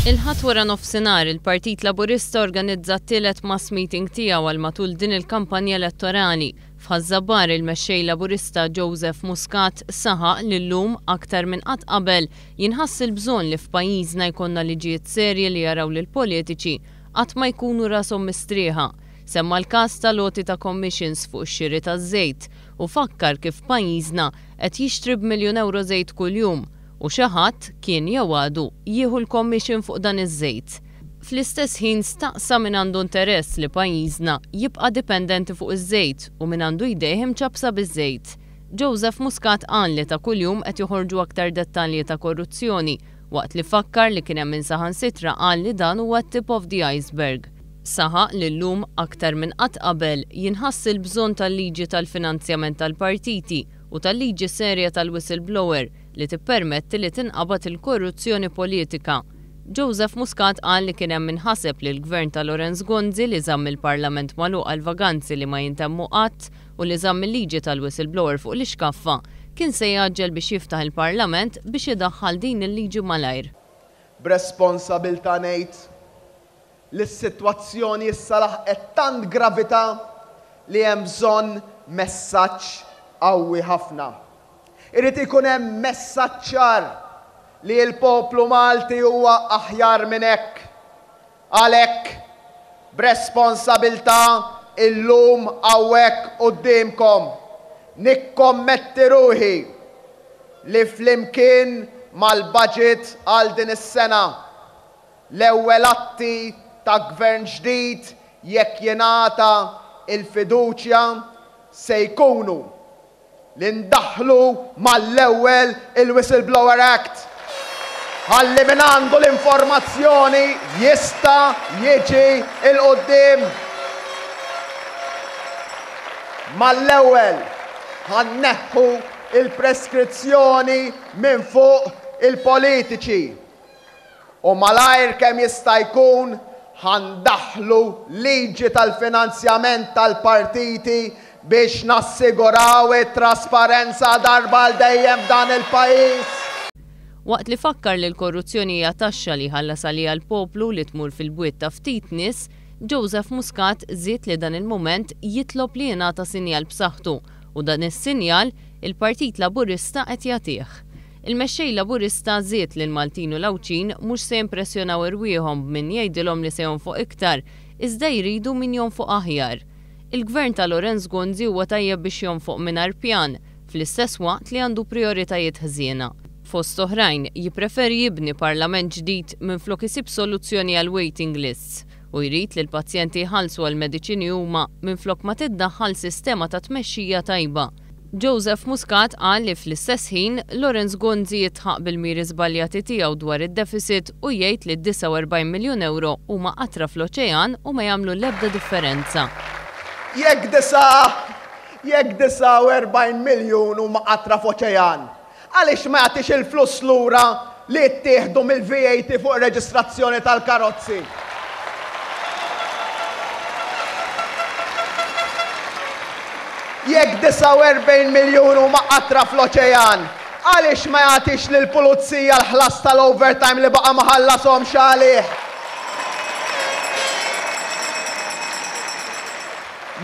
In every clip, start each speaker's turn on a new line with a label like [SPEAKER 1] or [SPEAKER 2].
[SPEAKER 1] Il-Ħadd waranofsinhar, il-Partit Laburista organizza t-tielet mass meeting tiegħu għal matul din il-kampanja elettorali. F'Ħaż-Żabbar, il-Mexxej Laburista Joseph Muscat saħaq li llum, aktar minn qatt qabel, jinħass il-bżonn li f'pajjiżna jkollna liġijiet serji li jaraw lill-politiċi qatt ma jkunu rashom mistrieħa. Semma l-każ tal-għoti ta' commissions fuq ix-xiri taż-żejt u fakkar kif pajjiżna qed jixtri b'miljun ewro żejt kuljum. U xi ħadd kien jew għadu jieħu l-commission fuq dan iż-żejt. Fl-istess ħin staqsa min għandu interess li pajjiżna jibqa' dipendenti fuq iż-żejt u min għandu jdejh imċappsa biż-żejt. Joseph Muscat qal li ta' kuljum qed joħorġu aktar dettalji ta' korruzzjoni waqt li fakkar li kien hemm min saħansitra qal li dan huwa t-tip of the iceberg. Saħaq li llum aktar minn qatt qabel jinħass il-bżonn tal-liġi tal-finanzjament tal-partiti u tal-liġi serja tal-whistleblower li tippermetti li tinqabad il-korruzzjoni politika. Joseph Muscat qal li kien hemm min ħaseb li l-Gvern ta' Lawrence Gonzi li żamm il-Parlament magħluq għal vaganzi li ma jintemmu qatt u li żamm il-liġi tal-whistleblower fuq l-ixkaffa kien se jgħaġġel biex jiftaħ il-Parlament biex idaħħal din il-liġi malajr. B'responsabilità
[SPEAKER 2] ngħid li s-sitwazzjoni issa laħqet tant gravità li hemm bżonn messaġġ qawwi ħafna. Irid ikun hemm messaġġ ċar li l-poplu Malti huwa aħjar minn hekk. Għalhekk, b'responsabiltà illum hawnhekk quddiemkom, nikkommetti ruħi li flimkien mal-Baġit għal din is-sena, L-ewwel atti ta' Gvern ġdid, jekk jingħata l-fiduċja, se jkunu li ndaħħlu mal-ewwel il-Whistleblower Act ħalli min għandu l-informazzjoni jista' jiġi 'l quddiem mal-ewwel. Ħa nneħħu l-preskrizzjoni minn fuq il-politiċi u malajr kemm jista' jkun ħa ndaħħlu liġi tal-finanzjament tal-partiti biex nassiguraw it-trasparenza darba għal dejjem f'dan il-pajjiż. Waqt
[SPEAKER 1] li fakkar li l-korruzzjoni hija taxxa li jħallas għaliha l-poplu li tmur fil-bwiet ta' ftit nies, Joseph Muscat żied li dan il-mument jitlob li jingħata sinjal b'saħħtu u dan is-sinjal, il-Partit Laburista qed jagħtih. Il-Mexxej Laburista żied li l-Maltin u l-Għawdxin mhux se jimpressjonaw irwieħhom b'min jgħidilhom li se jonfoq iktar iżda jridu min jonfoq aħjar. Il-Gvern ta' Lawrence Gonzi huwa tajjeb biex jonfoq mingħajr pjan fl-istess waqt li għandu prijoritajiet ħżiena. Fost oħrajn, jippreferi jibni Parlament ġdid minflok isib soluzzjoni għall-waiting lists u jrid li l-pazjenti jħallsu għall-mediċini huma minflok ma tiddaħħal sistema ta' tmexxija tajba. Joseph Muscat qal li fl-istess ħin, Lawrence Gonzi jitħaq bil-miri żbaljati tiegħu dwar id-deficit u jgħid li d-49 miljun ewro huma qatra fl-oċean u ma jagħmlu l-ebda differenza. Jekk
[SPEAKER 2] 49 miljun huma qatra f'oċean, Għaliex ma jagħtix il-flus lura li ttieħdu mill-VAT fuq ir-reġistrazzjoni tal-karozzi? Jekk 49 miljun huma qatra fl-oċean, għaliex ma jagħtix lill-Pulizija l-ħlas tal-overtime li baqa' ma ħallashomx għalih?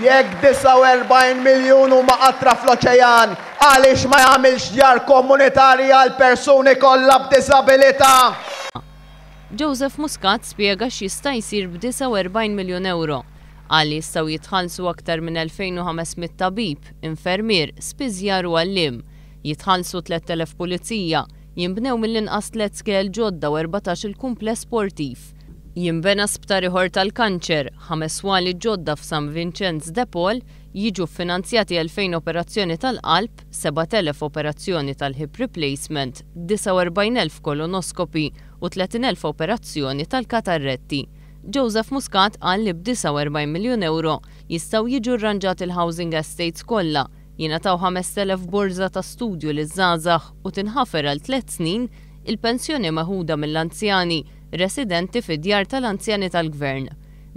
[SPEAKER 2] Jekk 49 miljun huma qatra fl-oċejan, għaliex ma jagħmilx djar komunitarji għall-persuni kollha b'diżabilità?
[SPEAKER 1] Joseph Muscat spjega x'jista' jsir b' 49 miljun ewro. Qal li jistgħu jitħallsu aktar minn 2,500 tabib, infermier, spiżjar u għalliem, jitħallsu 3,000 pulizija, jinbnew mill-inqas tliet skejjel ġodda u erbatax-il kumpless sportiv. Jinbena sptar ieħor tal-kanċer, ħames swali ġodda f'San Vinċenz de Paul, jiġu ffinanzjati 2,000 operazzjoni tal-qalb, 7,000 operazzjoni tal-hip replacement, 49,000 colonoscopy u 30,000 operazzjoni tal-katarretti. Joseph Muscat qal li b' 49 miljun ewro jistgħu jiġu rranġati l-housing estates kollha, jingħataw 5,000 borża ta' studju liż-żgħażagħ u tinħafer għal tliet snin il-pensjoni meħuda mill-anzjani residenti fi djar tal-anzjani tal-Gvern.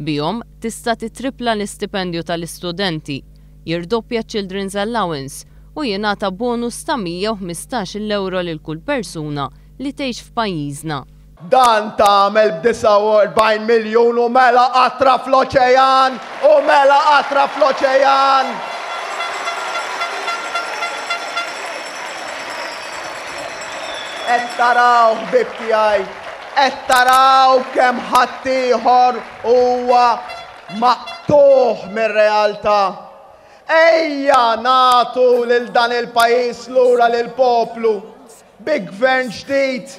[SPEAKER 1] Bihom, tista' tittrippla l-istipendju tal-istudenti, jirdoppja ċ-Children's Allowance u jingħata bonus ta' 115-il ewro lil kull persuna li tgħix f'pajjiżna. Dan
[SPEAKER 2] tagħmel b'49 miljun u mela qatra fl-oċejan! U mela qatra fl-oċejan! Qed taraw, ħbieb tiegħi, qed taraw kemm ħaddieħor huwa maqtugħ mir-realtà. Ejja nagħtu lil dan il-pajjiż lura lill-poplu bi Gvern ġdid